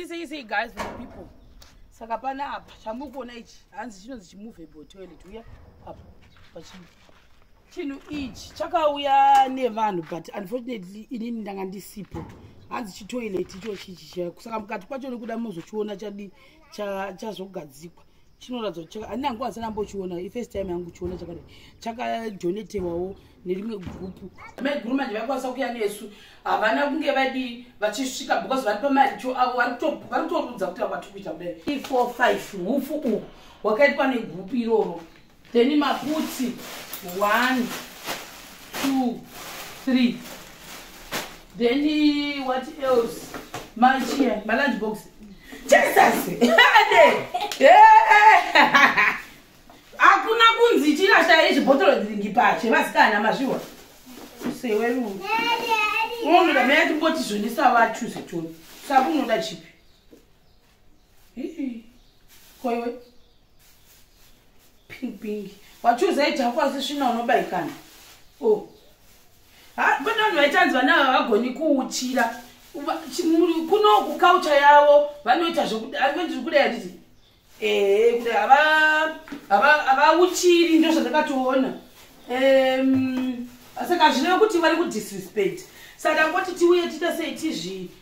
Easy, easy, guys, for the people. Saka pana apa chamuri kuona ichi hanzi chinonzi chimovable toilet uya apa pachinhu chinhu ichi chakauya nevanhu but unfortunately inini ndanga ndisipo hanzi chitoilet icho chichi saka mukati kwacho nekuda mozochiona chadi chazogadzikwa chinoratidza kuti handina nguva ndisati ambochiona ifirst time yangu kuchiona chakadai chakadonetewawo nerimwe gurupu mai guru manje vaikwanisa kuya nesu havana kunge vadi vachisvika because vari pamaricho avo vari kutorudza kuti vakwatiri kuita kudai four five hufu uhu hwakaitwa negurupu iroro then maputsi 1 2 3 then what else machia malunch box jesus hakuna kunzi chirashaya izvibhotoro dzingi pache vasikana mazviwa sewe lungu unoda meya timboti zvonisa vachuze choni sakunoda chipi koiwe pink pink wachuza ijako asi svina unobaikana o oh. ha pane vanhu vaitanzi vana ava vagoni kuuchira kuno kukaucha yavo vanoita zvekuaizviri kudai handiti ee kudai havauchiri ndo zvandakatoona saka zvinova kuti vari kudisrespect saka ngoti tiuye tiita sei tizvii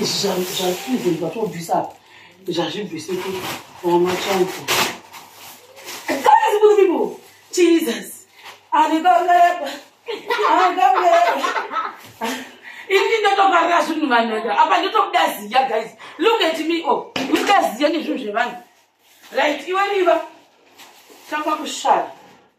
zvazvibvisa zvazvibvise kuamachanza jesus anekaungaepa ini ndotofarira zvinhu vanhu ega apa ndotobuda ziya guys look at me o oh. udaziya nezvinhu zvevanhu right iwe riva tanga kushara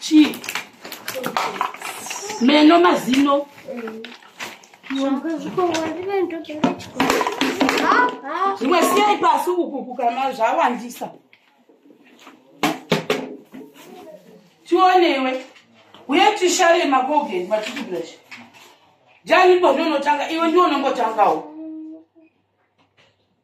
chii meno mazino zvimwe siyai pasi ukuku kana zvawandisa tionewe uye tishare makogeni matitublash jani ipo ndonotanga iwe ndionongotangawo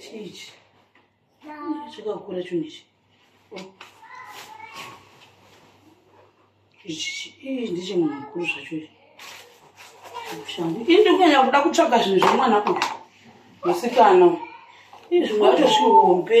chii ichi chakakura chinhu ichi ichi ii ndichemunhu mukuru zvacho ichi shangu ini ndikunyanya kuda kutsvaga zvinhu zvemwana kuti musikana izvimwe yacho zvihombe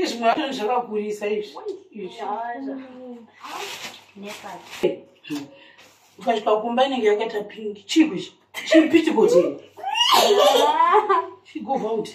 izvi mwana zvakakurisa izvi ukasvika kumba inenge yakaita pingi chigwi chipitikote chigova uti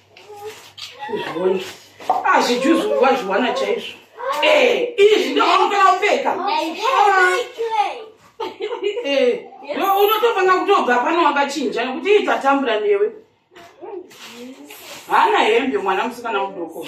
azvijuzuwazviwana ah, chaizvo eh, izvi ndoaukana upfeka eh, unotofanira kutobva pano wakachinja nekuti itatambura newe hana hembe mwana musikana mudoko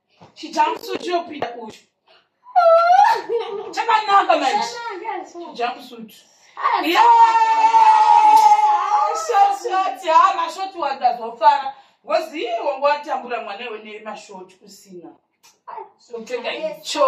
chijamsuit chiyopinda uyu chakanaka manje chijamsuit shoti ha mashoti wandazofara ngozi iye wangu watambura mwana iwe nemashoti kusina kupfeka icho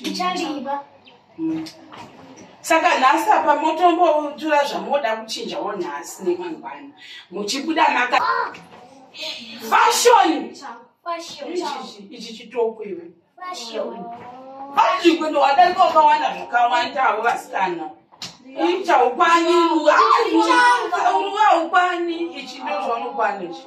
ndichaliba mm. saka nhasi apa motombotura zvamoda kuchinjawo nhasi nemangwana muchibuda maka ah! fashoni ichi chitoko iwe vazvikwe ndowadarika wakawanda zvakawandawo vasikana ichaupani uruwa upani ichi ndozvaunokwana ichi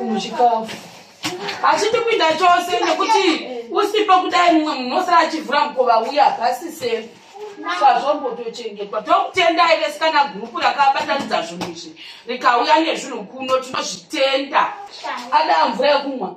muchikafu hachiti kuinda chose nekuti usipo kudai mumwe munhu osara achivhura mukova uya pasise sazvombotochengetwa tokutenda ive sikana gurupu rakabatanidza zvinhu izvi rikauya nezvinhu kuno tinozvitenda adaa mvura yekumwa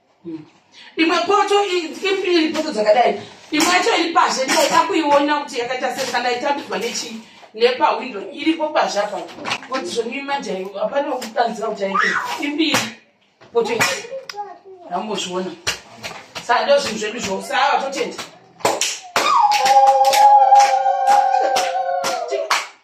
imwe poto iri poto dzakadai imwe yacho iri pazhe ndaida kuiona kuti yakaita sei kana itambidzwa nechii nepawindo iripo pazhe apa kuti zvonii manje hapana kutanzira kuti aite imbiri poto hambozviona sando zvinhu zvedu zvose ava totenda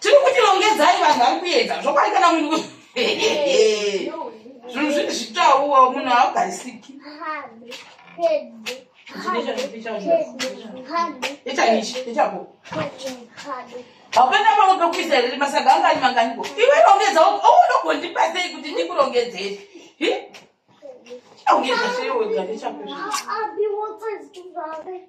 tiri kuti rongedzai vanhu vari kuedza zvokwadi kana munhu zvinhu zviri zvitauwa munhu haagarisiki hapana pamwe pekuisa here rimasaga angani manganiko iwe rongedza ounogondipatsei kuti ndikurongedzei aungezaseiwegandechakuzvi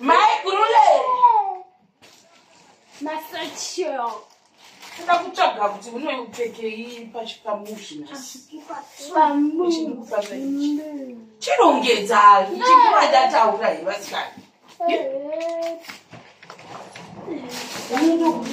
Mai kurule. Masachio. Sina kutsvaga kuti unoipfekei pachipamushi nhasi. Pamushi. Chirongedza chikuva ndataura here vasikana. Unokuti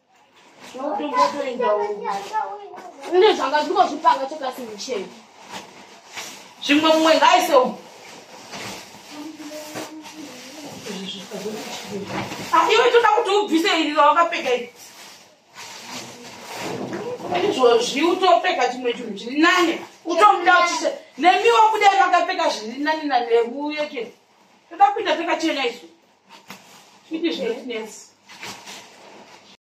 Ine zvanga zviko zvipanga chekasi mucheni. Zvimwe mumwe ngaise umu. Ah, iwe toda kuti ubvise iri rawakapfeka iri. Izvozvi utopfeka chimwe chinhu chiri nane. Utomuda uchise. Nemiwo kuda vakapfeka zviri nane nane uye ke. Toda kuita pfeka chena isu. Kuti zviri nesi.